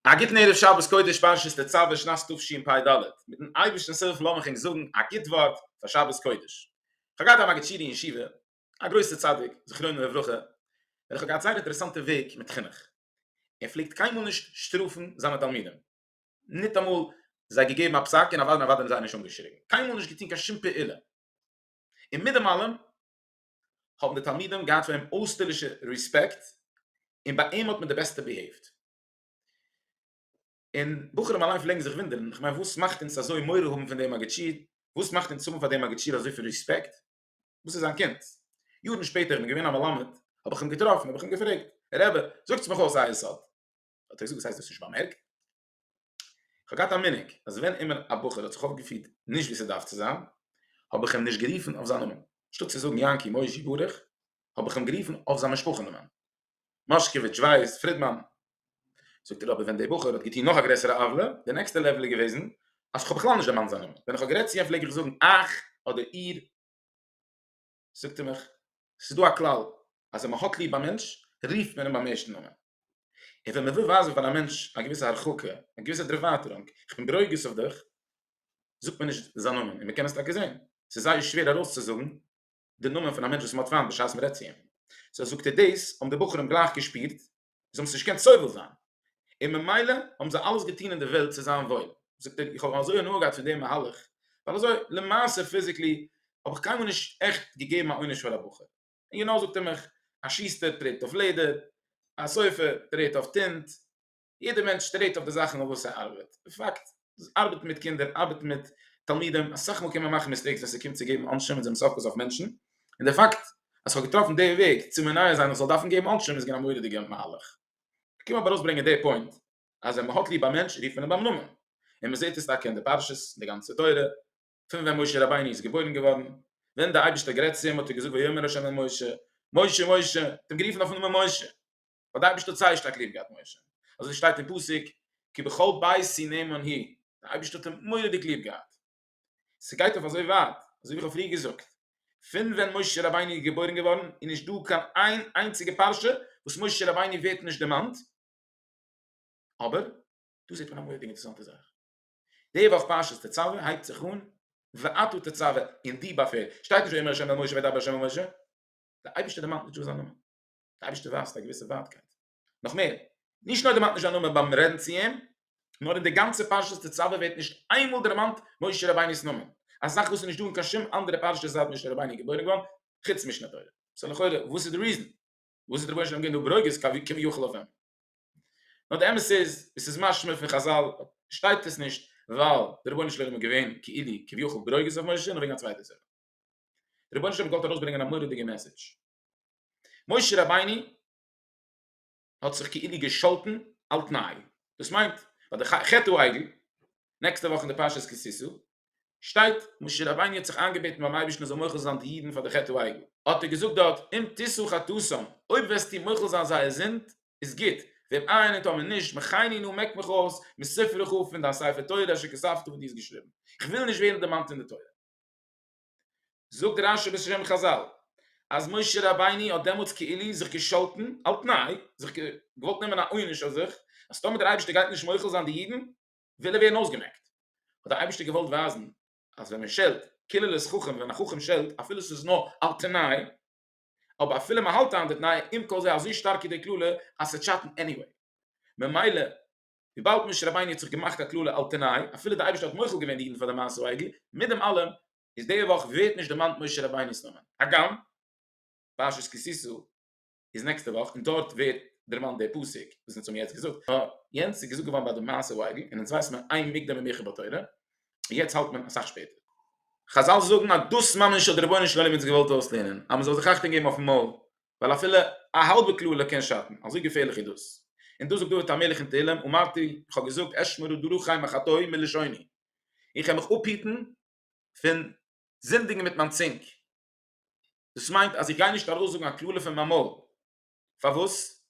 א גוטן ערב שבת קודש פרשת תצוה שנת תשפ ד, מיטן אייבערשטנ'ס הילף לאמיך ענק זאגן א גוט ווארט פאר שבת קודש. כ'האב געהאט א מגיד שיעור אין ישיבה, א גרויסער צדיק, זכרונו לברכה, וועלכער האט געהאט זייער אינטערעסאנטע וועג מיט חינוך. ער פלעגט קיינמאל נישט שטראפן זיינע תלמידים. ניטאמאל זיי געגעבן א פסק און א וואדען א וואדען איז זיי נישט אנגעשריגן קיינמאל נישט געטון קיין שום פעולה און מיט דעם אלעם האבן די תלמידים געהאט פאר אים אויסטערלישע ריספעקט און ביי אים האט מען די בעסטע ביהעיווט און בחורים אליין פלעגן זיך וואונדערן איך מיין וואס מאכט אונז אזוי מורא האבן פון דעם מגיד שיעור וואס מאכט אונז האבן פאר דעם מגיד שיעור אזויפיל ריספעקט וואס איז זיין קינד יארן שפעטער איך בין געווען א מלמד האב איך אים געטראפן האב איך אים געפרעגט רבי זאגטס מיך אויס א יסוד האט ער געזאגט וואס הייסט דאס נישט באמערקט? כ'האב געהאט א מנהג אז ווען אימער א בחור האט זיך אויפגעפירט נישט ווי ס'דארף צו זיין האב איך אים נישט גערופן אויף זיין נאמען, אנשטאט צו זאגן יענקי, מוישי, ברוך האב איך אים גערופן אויף זיין משפחה נאמען, מאשקעוויטש, ווייס, פרידמאן. זאגט ער אבער ווען דער בחור האט געטון נאך א גרעסערע עוולה, די נעקסטע לעוועל איז געוועזן אז כ'האב בכלל נישט דערמאנט זיין נאמען, ווען איך האב גערעדט צו אים פלעג איך זאגן אייך אדער איר, זאגט ער מיך, ס'איז דא א כלל, אז ווען מ'האט ליב א מענטש, רופט מען אים ביים ערשטן נאמען. און ווען מ'וויל ווייזן פאר א מענטש א געוויסע הרחקה, א געוויסע דערווייטערונג, איך בין ברוגז אויף דיך, זאגט מען נישט זיין נאמען. און מ'קען עס טאקע זען, ס'איז זייער שווער ארויסצוזאגן די נאמען פון א מענטש וואס מ'האט פיינט בשעת מ'רעדט צו אים. סאו זאגט ער דאס האבן די בחורים גלייך געשפירט, זיי האבן עס נישט געקענט סובל זיין, און ממילא האבן זיי אלעס געטון אין די וועלט צו זיין וואויל. זאגט ער, איך האב אזוי הנאה געהאט פון דעם מהלך, ווייל אזוי למעשה פיזיקלי האב איך קיינמאל נישט עכט געגעבן א עונש פאר א בחור. און יא נאר זאגט ער מיך, א שוסטער טרעט אויף לעדער, א סופר טרעט אויף טינט, יעדער מענטש טרעט אויף די זאכן אויף וואס ער ארבעט. אין פאקט, ארבעטן מיט קינדער, ארבעטן מיט תלמידים, אסאך מאל קען מען מאכן מיסטעיקס ווען ס'קומט צו געבן עונשים און זיי מוז אפפאסן אויף מענטשן, און די פאקט אז כ'האב געטראפן די וועג צו מונע זיין איך זאל דארפן געבן עונשים איז געווען א מורא'דיגע מהלך. כ'קום אבער ארויסברענגען די פוינט אז ווען מ'האט ליב א מענטש רופט מען אים ביים נאמען, און מ'זעט עס טאקע אין די פרשות, אין די גאנצע תורה, פון ווען משה רבינו איז געבוירן געווארן, ווען די אייבערשטער האט גערעדט צו אים האט ער געזאגט ויאמר ה' אל משה, משה משה, ער האט אים גערופן אויפן נאמען משה. האט די אייבערשטער זייער שטארק ליב געהאט משה, אזוי שטייט אין פסוק כי בכל בית סיני מנהי, די אייבערשטער האט אים מורא'דיג ליב געהאט, ס'גייט אויף אזוי ווייט, אזוי ווי איך האב פריער געזאגט, פון ווען משה רבינו איז געבוירן געווארן איז נישט דא קיין איין איינציגע פרשה וואס משה רבינו ווערט נישט דערמאנט, אבער דא זעט מען א מורא'דיג אינטערעסאנטע זאך, די וואך פרשת תצוה הייבט זיך אן ואתו תצוה, אין די באפעל שטייט נישט ויאמר ה' אל משה וידבר ה' אל משה, די אייבערשטער דערמאנט נישט דא זיין נאמען. די אייבערשטער ווייזט א געוויסע ווייטקייט, נאך מער, נישט נאר דערמאנט נישט זיין נאמען ביים רעדן צו אים, נאר אין די גאנצע פרשת תצוה ווערט נישט איינמאל דערמאנט משה רבינו'ס נאמען, א זאך וואס איז נישט דא אין קיין שום אנדערע פרשה זייט משה רבינו איז געבוירן געווארן, חוץ משנה תורה. סא לכאורה וואס איז די ריזען? וואס האט רבונו של עולם געווען דא ברוגז כביכול אויף אים? נאר די אמת איז, ווי ס'איז משמע פון חזל, שטייט עס נישט ווייל דער רבונו של עולם איז געווען כאילו כביכול ברוגז אויף משה, נאר וועגן א צווייטע סיבה. דער רבונו של עולם האט געוואלט ארויסברענגען א מורא'דיגע מעסעדזש, משה רבינו האט זיך כאילו געשאלטן על תנאי, דאס מיינט ביי די חטא העגל, נעקסטע וואך אין די פרשת כי תשא, שטייט משה רבינו האט זיך איינגעבעטן ביים אייבערשטן ער זאל מוחל זיין די אידן פאר די חטא העגל, האט ער געזאגט דארט אם תשא חטאתם, אויב וועסטו מוחל זיין זייער זינד איז גוט, ואם אין און טאמער נישט מחני נא מעק מיך אויס מספרך פון דיין ספר תורה אשר כספת וואס דו האסט געשריבן, איך וויל נישט ווערן דערמאנט אין די תורה. זאגט רשי בשם חזל אז משה רבינו האט דעמאלטס כאילו זיך געשאלטן על תנאי, זיך געוואלט נעמען א עונש אויף זיך, אז טאמער דער אייבערשטער גייט נישט מוחל זיין די אידן וויל ער ווערן אויסגעמעקט. האט דער אייבערשטער געוואלט ווייזן אז ווען מען שעלט, כאילו לעת חכם ווען א חכם שעלט אפילו ס'איז נאר על תנאי, אבער אפילו מען האלט איין די תנאי, עם כל זה אזוי שטארק איז די קללה אז ס'טשאטן עניוועי. ממילא וויבאלד משה רבינו האט זיך געמאכט א קללה על תנאי, אפילו די אייבערשטער האט מוחל געווען די אידן פאר די מעשה העגל, מיט דעם אלעם איז די וואך ווערט נישט דערמאנט משה רבינו'ס נאמען, הגם פרשת כי תשא איז נעקסטע וואך און דארט ווערט דערמאנט די פסוק וואס אונז האבן יעצט געזאגט, נאר יענץ איז געזאגט געווארן ביי די מעשה העגל, און אונז ווייסט מען איין מוקדם ומאוחר בתורה, און יעצט האלט מען אסאך שפעטער. חזל זאגן אז דאס ממש האט דער רבונו של עולם אונז געוואלט אויסלערנען, אז מען זאל זיך אכטונג געבן אויפן מויל, ווייל אפילו א האלבע קללה קען שאטן, אזוי געפערליך איז דאס. און דאס זאגט דוד המלך אין תהלים, אמרתי, איך האב געזאגט, אשמרו דרכי מחטאי מלשוני, איך וועל מיך אפהיטן פון זינדיגן מיט מיין צונג. דאס מיינט אז איך גיי נישט ארויסזאגן א קללה פון מיין מויל. פארוואס?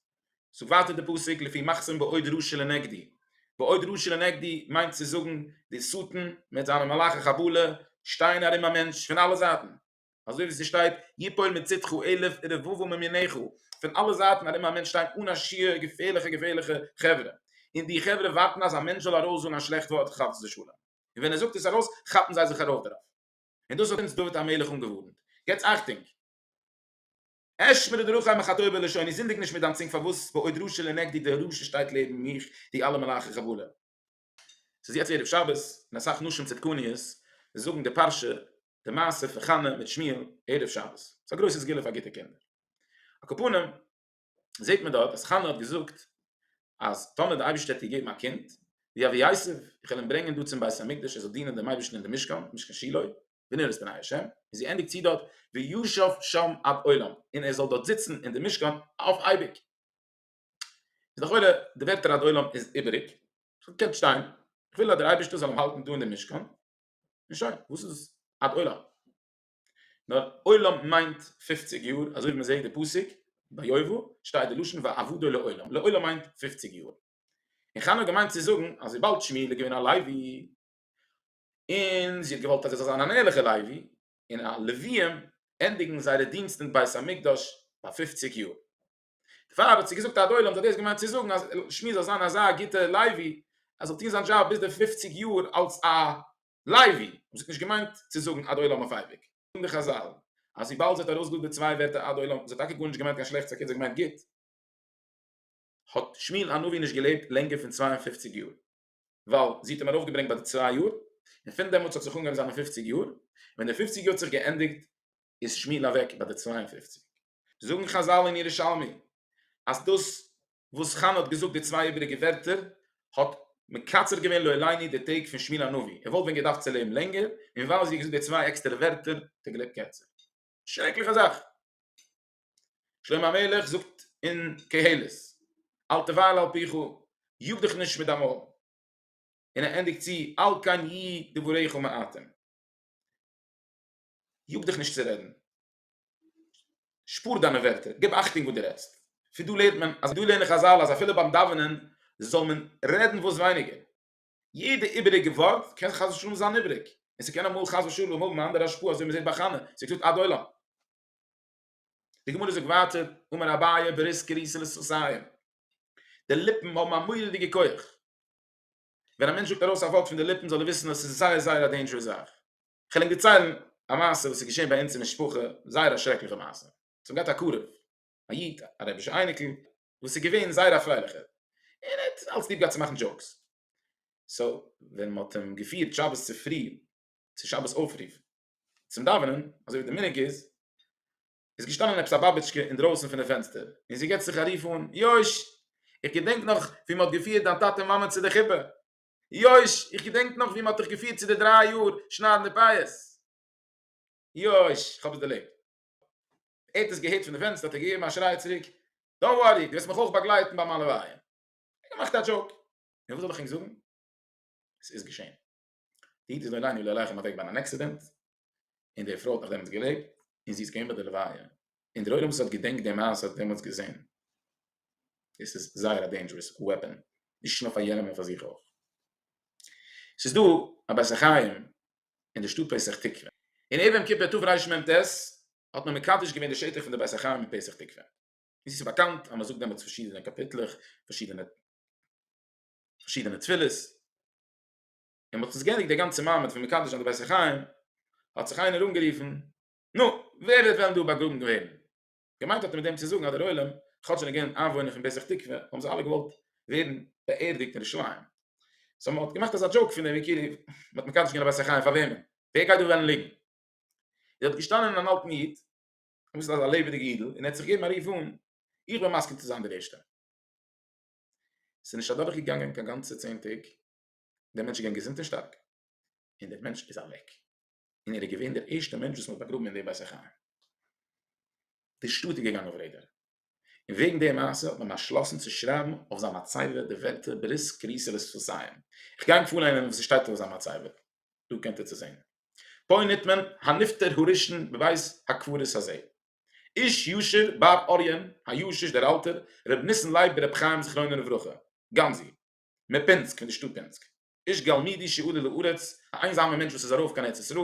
זאגט ווייטער דער פסוק, לפי מחסום בעוד רשע לנגדי. בעוד רשע לנגדי מיינט צו זאגן, דער שטן מיט זיינע מלאכי חבלה שטייען ארום א מענטש פון אלע זייטן, אזוי ווי ס'שטייט יפול מצדך אלף ורבבו מימיניך, פון אלע זייטן ארום א מענטש שטייען אן א שיעור געפערליכע געפערליכע חברה, און די חברה ווארטן אז א מענטש זאל ארויס זאגן א שלעכט ווארט חס ושלום, און ווען ער זאגט עס ארויס כאפן זיי זיך ארויף דערויף, און דאס האט אונז דוד המלך אנגעווארנט, געטס אכטונג! אשמר דרכי מחטאי בלשוני, זינדיג נישט מיט דיין צונג פארוואס בעוד ראשי לנגדי דער ראש שטייט לעבן מיך די אלע מלאכי חבלה. ס'איז יעצט ערב שבת און אסאך נשים צדקניות זאגן די פרשה די מעשה פון חנה מיט שמואל ערב שבת. ס'איז א גרויסע סגולה פאר גוטע קינדער. על כל פנים זעט מען דארט אז חנה האט געזאגט אז טאמער די אייבערשטער וועט איר געבן א קינד ווי אבי יוסף, איך וועל אים ברענגען דא צום בית המקדש ער זאל דינען דעם אייבערשטן אין דעם משכן, משכן שילה, בנרות פני ה', און זי ענדיגט צו דארט וישב שם עד עולם, און ער זאל דארט זיצן אין דעם משכן אויף אייביג. איז לכאורה די ווערטער עד עולם איז איבעריג, ס'זאל קענט שטיין, איך וויל אז דער אייבערשטער זאל אים האלטן דא אין די משכן, און שוין, וואס איז עד עולם? נאר עולם מיינט פופציג יאר, אזוי ווי מען זעט די פסוק ביובא שטייט די לשון ועבדו לעולם, לעולם מיינט פופציג יאר, און חנה האט געמיינט צו זאגן אז וויבאלד שמואל איז געווען א לוי, און זי האט געוואלט אז ער זאל זיין אן ערליכער לוי, און א לוויים ענדיגן זייערע דינסט אין בית המקדש ביי פופציג יאר. דערפאר האט זי געזאגט אט דער עולם האט דאס געמיינט צו זאגן אז שמי זאל זיין אזא גוטער לייבי ער זאל טון זיין דזשאב ביז די פֿופֿציק יאר אלס א לייבי און זי האט נישט געמיינט צו זאגן אט דער עולם אויף אייביג. זאגן די חזל אז וויבאלד זי האט ארויסגעזאגט די צוויי ווערטער אט דער עולם זי האט טאקע גארנישט געמיינט קיין שלעכטס אקערט זי האט געמיינט גוט האט שמואל הנביא נישט געלעבט לענגער פון צוויי און פֿופֿציק יאר ווייל זי האט אים ארויפגעברענגט ביי די צוויי יאר און פון דעמאלטס האט זיך אנגעהויבן זיינע פֿופֿציק יאר ווען די פֿופֿציק יאר האט זיך געענדיגט איז שמואל אוועק ביי די צוויי און פֿופֿציק. זאגן חזל אין ירושלמי אז דאס וואס חנה האט געזאגט די צוויי איבעריגע ווערטער האט מקצר געווען לא עליני די טעג פון שמואל הנביא, ער וואלט ווען געדארפט צו לעבן לענגער, און ווייל זי האט געזאגט די צוויי עקסטערע ווערטער האט ער געלעבט קערצער. שרעקליכע זאך. שלמה המלך זאגט אין קהלת, אל תבהל על פיך, יאג דיך נישט מיט דיין מויל. און ער ענדיגט צו, אל כן יהיו דבריך מעטים. יאג דיך נישט צו רעדן. שפאר דיינע ווערטער, גיב אכטונג וואס דו רעדסט. פון דא לערנט מען אז דא לערנען חזל אז אפילו ביים דאווענען זאל מען רעדן וואס ווייניגער. יעדע איבעריגע ווארט קען חס ושלום זיין איבעריג, און ס'קען אמאל חס ושלום האבן א אנדערע השפעה אזוי מ'זעט ביי חנה, זי האט געזאגט עד עולם. די גמרא זאגט ווייטער, אמר אביי בריסק קריסא לסוסיא, די ליפן האבן א מורא'דיגע כח. ווען א מענטש זאגט ארויס א ווארט פון די ליפן זאל ער וויסן אז ס'איז זייער זייער א דעינדזשערעס זאך. כ'על ענק דערציילן א מעשה וואס איז געשען ביי אונז אין משפחה, זייער א שרעקליכע מעשה. ס'האט געהאט א קרוב, א איד, א רבי'שע אייניקל, וואס איז געווען זייער א פרייליכער, און ער האט אלץ ליב געהאט צו מאכן דזשאוקס. סאו, ווען מ'האט אים געפירט שבת צופרי צו שבת אויפרוף צום דאווענען, אזוי ווי די מנהג איז, איז געשטאנען עפעס א באבעטשקע אינדרויסן פון די פענסטער, און זי גיבט זיך א רוף אן, יויש! איך געדענק נאך ווי מ'האט געפירט דיין טאטע מאמע צו די חופה. יויש, איך געדענק נאך ווי מען האט דיך געפירט צו די דריי יאר שניידן די פייעס. יויש, איך האב עס דערלעבט. ער האט עס געהערט פון די פענסטער האט ער געגעבן א שריי צוריק, דאנט ווארי, דו וועסט מיך אויך באגלייטן ביי מיין לוויה. ער האט געמאכט א דזשאוק. נו וואס זאל איך ענק זאגן? עס איז געשען. די איד איז עלינו לא עליכם אוועק ביי אן עקסידענט. און די פרוי האט נאך דעמאלטס געלעבט און זי איז געווען ביי די לוויה און דער עולם וואס האט געדענקט די מעשה האט דעמאלטס געזען דאס איז זייער א דעינדזשערעס וועפען נישט נאר פאר יענעם נאר פאר זיך אויך. ס'איז דא א בית החיים אין די שטאט פסח תקווה און ערב יום כיפור תרמ ט האט מען מקדש געווען די שטח פון די בית החיים אין פסח תקווה און ס'איז באקאנט אז מ'זאגט דעמאלטס פארשידענע קאפיטלעך פארשידענע פארשידענע תפילות. און מ'האט עס געענדיגט די גאנצע מעמד פון מקדש זיין די בית החיים, האט זיך איינער אנגערופן, נו, ווער וועט וועלן דא באגראבן ווערן? געמיינט האט ער מיט דעם צו זאגן אז דער עולם, כאטש ער איז געווען איינוואוינער פון בעסעך תקווה, האבן זיי אלע געוואלט ווערן באערדיגט אין ירושלים. סאו מ'האט געמאכט אזא דזשאוק פון דעם ווי כאילו מ'האט מקדש געווען א בית החיים פאר וועמען? ווער גייט דא וועלן ליגן? איז דארט געשטאנען אן אלטן איד, אביסל אזא לעבעדיגע אידל, און ער האט זיך געגעבן א רוף אן, איך בין מסכים צו זיין דער ערשטער. ס'איז נישט אדורכגעגאנגען קיין גאנצע צען טעג, דער מענטש איז געווען געזונט און שטארק, און דער מענטש איז אוועק, און ער איז געווען דער ערשטער מענטש וואס מען האט באגראבן אין די בית החיים. די שטאט איז געגאנגען אויף רעדער, און וועגן די מעשה האט מען באשלאסן צו שרייבן אויף זיין מצבה די ווערטער ברית כריסל איז פארסיין. איך גיי ענק פארליינען וואס עס שטייט אויף זיין מצבה, דא קענט איר צו זען. פה ניט מען הנפטר הראשון בבית הקברות הזה. איש ישר באב אריון הישיש דער אלטער ר' ניסן לייב בר' חיים זכרונו לברכה, גאנזי. מפינסק פון די שטאט פינסק איש גלמידי שעלה לארץ א איינזאמער מענטש וואס איז ארויף קיין ארץ ישראל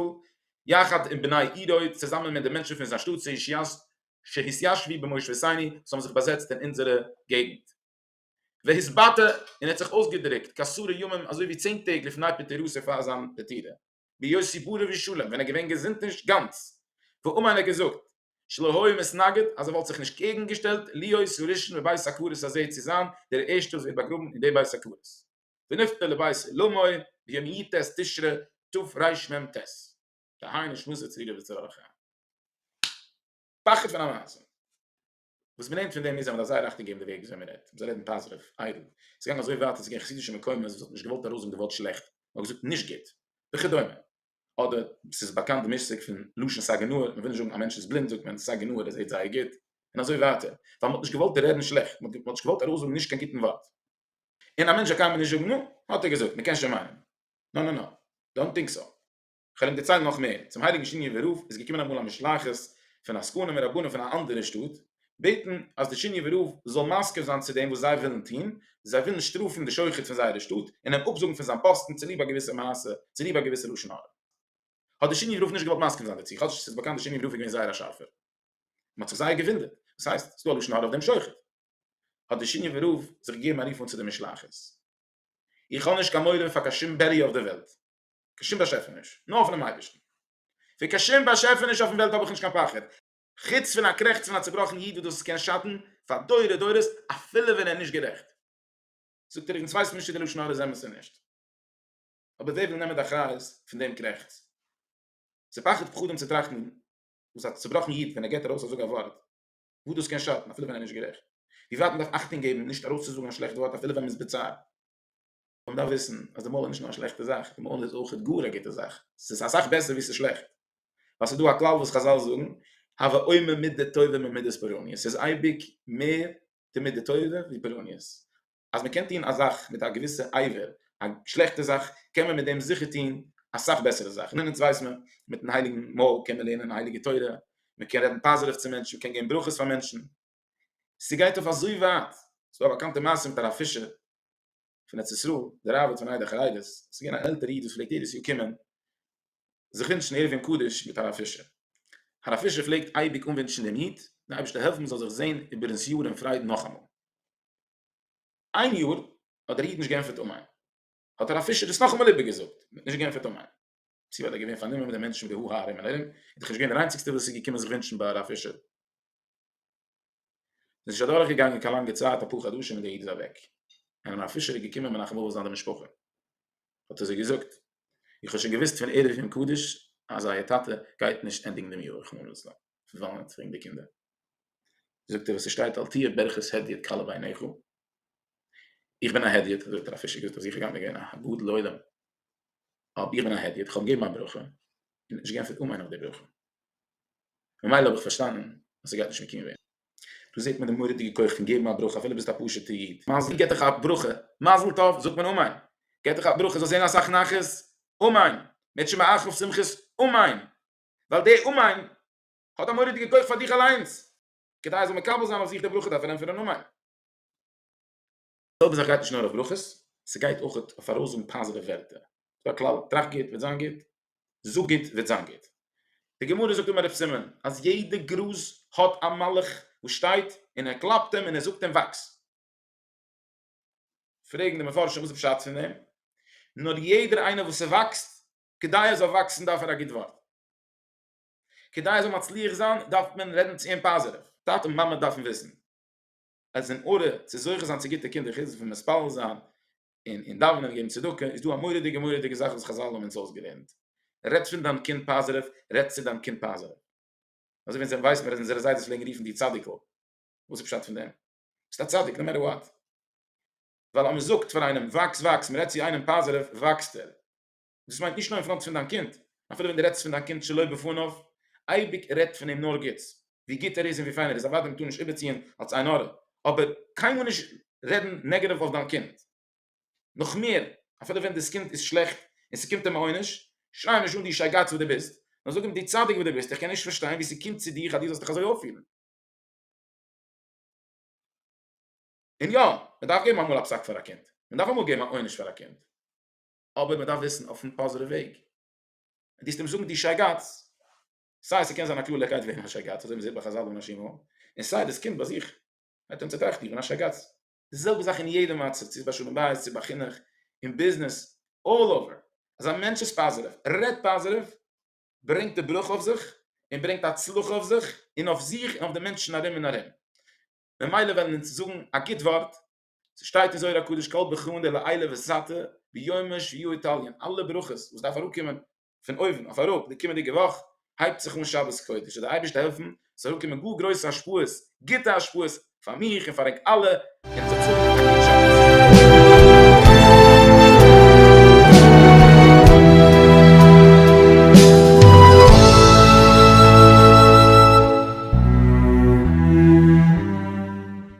יחד עם בני עירו צוזאמען מיט די מענטשן פון זיין שטאט צעישיאסט שהתיישבי במושבותיני וואס האבן זיך באזעצט אין אונזערע געגנט והתבטא און ער האט זיך אויסגעדרוקט כעשרה ימים אזוי ווי צען טעג לפני פטירתו פאר זיין פטירה. בהיות סיפורו ווי שלום ווען ער געווען געזונט נישט גאנץ ואומן ער האט געזאגט שלא היה מתנגד אז ער וואלט זיך נישט קעגן געשטעלט להיות הראשון בבית הקברות הזה צו זיין דער ערשטער וואס ווערט באגראבן אין די בית הקברות ונפטר לבית עולמו ביום י ט תשרי תרמ ט דהיינו שמות זצ ל וצוה ח פחד פון א מעשה. וואס מ'לערנט פון דעם איז אז מ'דארף זייער אכטונג געבן די וועג וויאזוי מ'רעדט, מ'זאל רעדן פאזיטיוו, איידל. עס איז געגאנגען אזוי ווייט אז עס איז געווען חסידישע מקומות וואס האט נישט געוואלט ארויסזאגן די ווארט שלעכט, מ'האט געזאגט נישט גוט, וכדומה. אדער עס איז באקאנט די מושג פון לשון סאיז גענאר, מ'וויל נישט זאגן א מענטש איז בלינד זאגט מען סאיז גענאר ער זעט זייער גוט, און אזוי ווייטער, ווייל מ'האט נישט געוואלט רעדן שלעכט, מ'האט נישט געוואלט ארויסזאגן נישט קיין גוטן ווארט. און א מענטש זאל קיינמאל נישט זאגן נו, האט ער געזאגט, מ'קען שוין מיינען. נא נא נא, דאנט טינק סאו. כ'וועל אים דערציילן נאך מער, צום הייליגן שיניעווער רב איז געקומען אמאל א משלחת פון עסקנים און רבנים פון א אנדערע שטאט בעטן אז דער שיניעווער רב זאל מסכים זיין צו דעם וואס זיי ווילן טון, זיי ווילן שטראפן די שוחט פון זייערע שטאט און אים אפזאגן פון זיין פאסטן צוליב א געוויסע מעשה, צוליב א געוויסע לשון הרע. האט דער שיניעווער רב נישט געוואלט מסכים זיין דערצו, כאטש עס איז באקאנט דער שיניעווער רב איז געווען זייער א שארפער. מען האט זיך זייער געוואונדערט, וואס הייסט, ס'דא א לשון הרע אויף דעם שוחט? האט דער שיניעווער רב זיך געגעבן א רוף אן צו די משלחת, איך האב נישט קיין מורא פאר קיין שום בעריער אויף דער וועלט, קיין שום באשעפעניש, נאר פונעם אייבערשטן. פון קיין שום באשעפעניש אויפן וועלט האב איך נישט קיין פחד, חוץ פון א קרעכץ פון א צעבראכן איד וואס דאס קען שאטן פאר דורי דורות אפילו ווען ער איז נישט גערעכט. זאגט ער איך יעצט ווייס נישט צו די לשון הרע איז אמת צו נישט, אבער ווער וויל נעמען די אחריות פון דעם קרעכץ? ס'איז פחד פחדים צו טראכטן וואס א צעבראכן איד ווען ער געט ארויס אזוי א ווארט וואס דאס קען שאטן אפילו ווען ער איז נישט גערעכט, ווי ווייט מ'דארף אכטונג געבן נישט ארויסצוזאגן א שלעכט ווארט אפילו ווען מ'איז בצער. און מ'דארף וויסן אז די מוהל איז נישט נאר א שלעכטע זאך, די מוהל איז אויכעט גאר א גוטע זאך, ס'איז אסאך בעסער ווי ס'איז שלעכט, ווייל ס'איז דא א כלל וואס חזל זאגן, הוה אומר מידה טובה ממידת פורעניות, ס'איז אייביג מער די מידה טובה ווי פורעניות, אז מ'קען טון א זאך מיט א געוויסע אייוועלט, א שלעכטע זאך, קען מען מיט דעם זיכער טון אסאך בעסערע זאכן, און אונז ווייס מען, מיטן הייליגן מוהל קען מען לערנען הייליגע תורה, מ'קען רעדן פאזיטיוו צו מענטשן, מ'קען געבן ברכות פאר מענטשן, ס'גייט אויף אזוי ווייט, ס'איז דא א באקאנטע מעשה מיט הרב פישער, פון ארץ ישראל, דער ראבד פון איידער חריידעס, ס'איז געווען אן עלטערע איד וואס פלעגט יעדעס יאר קומען זיך ווינטשן ערבים קדוש מיט הרב פישער. הרב פישער פלעגט אייביג אנווינטשן דעם איד, דער אייבערשטער העלפן מ'זאל זיך זען איבערן ס'יאר אין פרייד נאכאמאל. איין יאר האט דער איד נישט געענטפערט אמן, האט הרב פישער דאס נאכאמאל איבערגעזאגט, מ'האט נישט געענטפערט אמן, צי ווייל ער איז געווען פארנומען מיט די מענטשן ודי ה ה ארום און ארום, איז דאך נישט געווען דער איינציגסטער וואס איז געקומען זיך ווינטשן ביי הרב פישער. עס איז נישט אדורך געגאנגען קיין לאנגע צייט אפאר חדשים און דער איד איז אוועק, און אן אפישער איז געקומען מנחם אבא זיין די משפחה, האט ער זיי געזאגט, איך האב שוין געוואוסט פון ערב יום קדוש אז אייער טאטע גייט נישט ענדיגן דעם יאר רחמנא ליצלן, פון וואנען האט איר ענק די קינדער? זאגט ער וואס עס שטייט אל תהיה ברכת הדיוט קלה בעיניך, איך בין א הדיוט, אזוי האט דער אפישער געזאגט אז איך גענט געווען א גדול עולם, אבער איך בין א הדיוט, איך האב געגעבן א ברכה און נישט גענפערט אמן אויף די ברכה. ממילא האב איך פארשטאנען אז ס'גייט נישט מקיום ווערן. דא זעט מען די מורא'דיגע כח פון געבן א ברכה אפילו ביסט א פשוט'ע איד, מזל געט דיך א ברכה, מזל טוב זאגט מען אמן, געט דיך א ברכה זאלסט זען אסאך נחת, אמן, מען וועט שוין מאכן אויף שמחות, אמן, ווייל די אמן האט א מורא'דיגע כח פאר דיך אליינס, כדי ער זאל מקבל זיין אויף זיך די ברכה דארף ער ענטפערן אמן. זעלבע זאך גייט נישט נאר אויף ברכות, ס'גייט אויך אויף ארויסזאגן פאזיטיווע ווערטער. ס'דא א כלל, טראכט גוט וועט זיין גוט, זאג גוט וועט זיין גוט. די גמרא זאגט אומער דף סימן, אז יעדע גראז האט א מלאך וואס שטייט און ער קלאפט אים און ער זאגט אים וואקס. פרעגן די מפרשים וואס איז פשט פון דעם? נאר יעדער איינער וואס ס'וואקסט, כדי ער זאל וואקסן דארף ער א גוט ווארט. כדי ער זאל מצליח זיין דארף מען רעדן צו אים פאזיטיוו. טאטע און מאמע דארפן וויסן אז אין ארע צו זוכה זיין צו גוטע קינדער חוץ פון מתפלל זיין אין אין דאווענען און געבן צדקה איז דא א מורא'דיגע מורא'דיגע זאך וואס חזל האבן אונז אויסגעלערנט רעדט פון דיין קינד פאזעטיוו רעדט צו דיין קינד פאזעטיוו אזוי ווען זיי ווייסט מען אז אונזערע זיידעס פלעגן רופן די צדיק'ל וואס איז פשט פון דעם ביסט א צדיק נאו מעטער וואט ווייל אז מען זאגט פאר איינעם וואקס וואקס מען רעדט צו איינעם פאזעטיוו וואקסט ער דאס מיינט נישט נאר אין פראנט פון דיין קינד, אפילו ווען דו רעדסט פון דיין קינד שלא בפניו, אייביג רעד פון אים נאר גוטס, ווי גוט ער איז און ווי פיין ער איז, אוודאי מ'טאר נישט איבערציען אלס עין הרע, אבער קיינמאל נישט רעדן נעגעטיוו אויף דיין קינד. נאך מער, אפילו ווען דאס קינד איז שלעכט און ס'קומט אים א עונש, שריי אים נישט אן דו שייגאץ וואס דו ביסט, נאר זאג אים דו צדיק וואס דו ביסט, איך קען נישט פארשטיין ווי ס'קומט צו דיך אז דו זאלסט דיך אזוי אויפפירן. און יא, מ'דארף געבן אמאל א פסק פאר א קינד, מ'דארף אמאל געבן א עונש פאר א קינד. אבער מען דארף וויסן אויפן פאזערע וועג ווען דיסט אים זאגן די שייגאץ סיי ס'קען זיין א קלארליכקייט וועגן א שייגאץ אזוי מ'זעט ביי חזל און נשים און סיי דאס קינד ביי זיך וועט אים צוטראכטירן א שייגאץ די זעלבע זאך אין יעדע מצב צו ביי שלום בית צו ביי חינוך אין ביזנעס אלל אווער אז א מענטש איז פאזערעוו רעדט פאזערעוו ברענגט די ברכה אויף זיך און ברענגט הצלחה אויף זיך און אויף זיך און אויף די מענטשן ארום און ארום ממילא וועלן אונז זאגן א גוט ווארט ס'שטייט אין זוהר הקדוש כל ברכין דלעילא וסתר ביומא שביעי יתעלין, אלע ברכות וואס דארף אראפקומען פון אויבן אויף אראפ די קומענדיגע וואך הייבט זיך אן שבת קודש, זאל דער אייבערשטער העלפן עס זאל אראפקומען גאר גרויסע השפעות, גוטע השפעות, פאר מיך און פאר ענק אלע, און עס זאל זיך אויסדרוקן א גוט שבת.